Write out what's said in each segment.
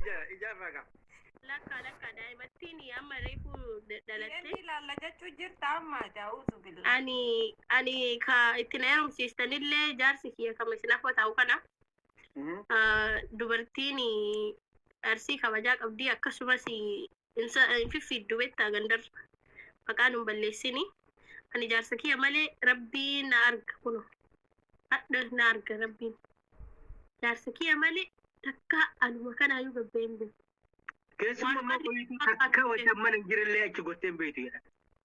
ija- ijaarraa gaa. Lakkaa lakkaa daa'imattiin amma reefu da- dhalatte. Inni ilaalla jechuu jirta amma jaa'uuzu billaa. Ani ani ka itti na heerumsiistanillee jaarsi kiyya kama isin afwa taa'u kana Mhm. ah, dubartiin arsii kabajaa qabdi akkasumas Insa hin fiffiiddu bettaa gandarra maqaa nun balleessini ani jaarsa kiyya malee rabbiin na arga kuno hadha na arga rabbiin jaarsa kiyya malee takkaa anuma kanaayyuu gabba'een beeku Keessummaa Waanuma qoyiitii takka wajjin mana hin jirellee achi gottee hin beektu jedha.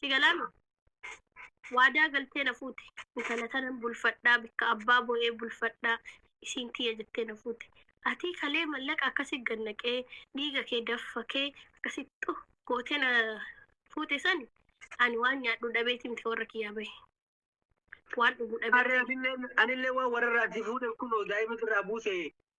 si galaama waadaa galtee na fuute intala tanan bulfadhaa bikka abbaa bo'ee bulfadhaa isiin tiyya jettee na fuute atii kalee mallaqa akkasi gannaqee dhiiga kee daffakee akkasi xu gootee na fuute sani ani waan nyaadhu dhabeeti miti warra kiyyaa bahe waan dhugu dhabee Harree atillee anillee waan warrarraa si fuudhe kunoo daa'ima irraa buuse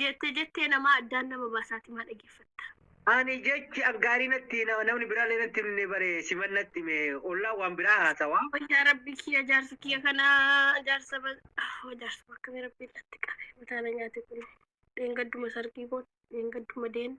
Jette jettee namaa addaan nama baasaati maa dhageeffatta. Ani jechi aggaarii natti na- namni biraallee natti himne bare siman natti hime ollaa waan biraa haasawa. Wayyaa rabbi kiyya jaarsa kiyya kana jaarsa ba- oh, jaarsa bakka mee rabbiin dhatti qabe mataana nyaate kun dheengadduma sargii kun dheengadduma deen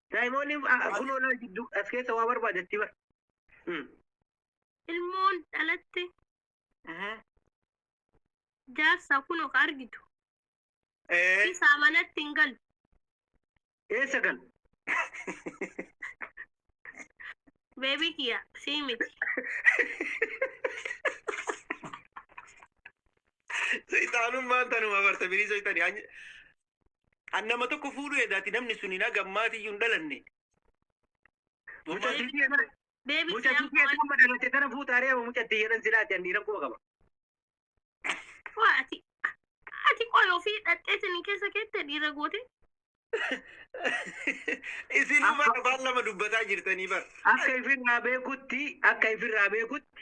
Daa'imoonni kunoo laal jidduu as keessa waa barbaadatti bar. Ilmoon dhalatte jaarsa kunoo ka argitu. Isaa manatti hin galu. Eessa gal? Beebii kiyya sii miti. Seexaanummaan tanuma barta birii seexanii. An nama tokko fuudhu edaati namni sun hin agammaati iyyuu hin dhalanne. Muca Mammaa- sitii kana Deebii muca sitii kana amma dhalatte kana fuutaaree amma mucatti jedhan silaati an dhiiran quba qaba. Waa ati ati qoy ofii dhaxxee sanii keessa keette dhiira goote. Isin Akka- bara afaan lama dubbataa jirtanii bara. Akka ifirraa beekutti akka ifirraa beekutti